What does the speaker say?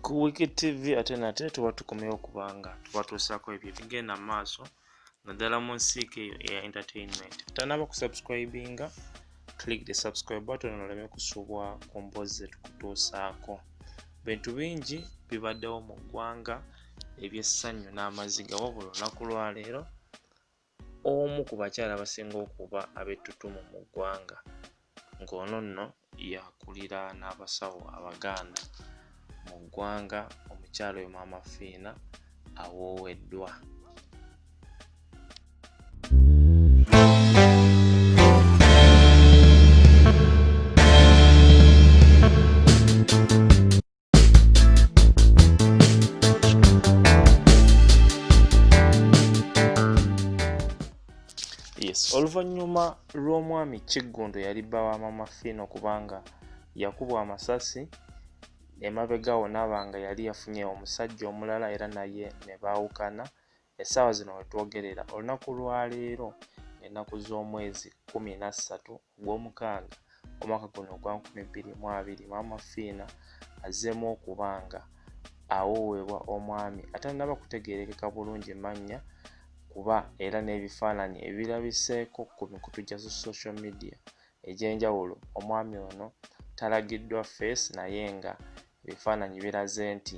ku wiki tv ate nate tuba tukomyewo kubanga tuba tuusaako ebyo ebigenda mu maaso naddala mu nsiika eyo eya entertainment tanaba kusubscribinga click the subscribe button oleme kusubwa ku mboozi zetukutuusaako bintu bingi bibaddewo mu ggwanga ebyessanyu n'amaziga wabula olunaku lwaleero omu ku bakyala abasinga okuba ab'ettutumu mu ggwanga ng'ono nno yakulira n'abasawo abaganda mu ggwanga omukyala oyo maama fiina awooweddwa oluvannyuma lw'omwami kiggundu yali bba wa mama fiino kubanga yakubwa amasasi emabega wo naaba nga yali yafunye omusajja omulala era naye ne baawukana Essaawa zino we twogerera olunaku lwa leero ng'ennaku z'omwezi kkumi na ssatu ogw'omukaaga omwaka guno ogwa nkumi bbiri mu abiri maama fiina azzeemu okubanga awoowebwa omwami atannaba kutegeerekeka bulungi mannya kuba era n'ebifaananyi ebirabiseeko ku mikutu gya social media egy'enjawulo omwami ono talagiddwa feesi naye nga ebifaananyi biraze nti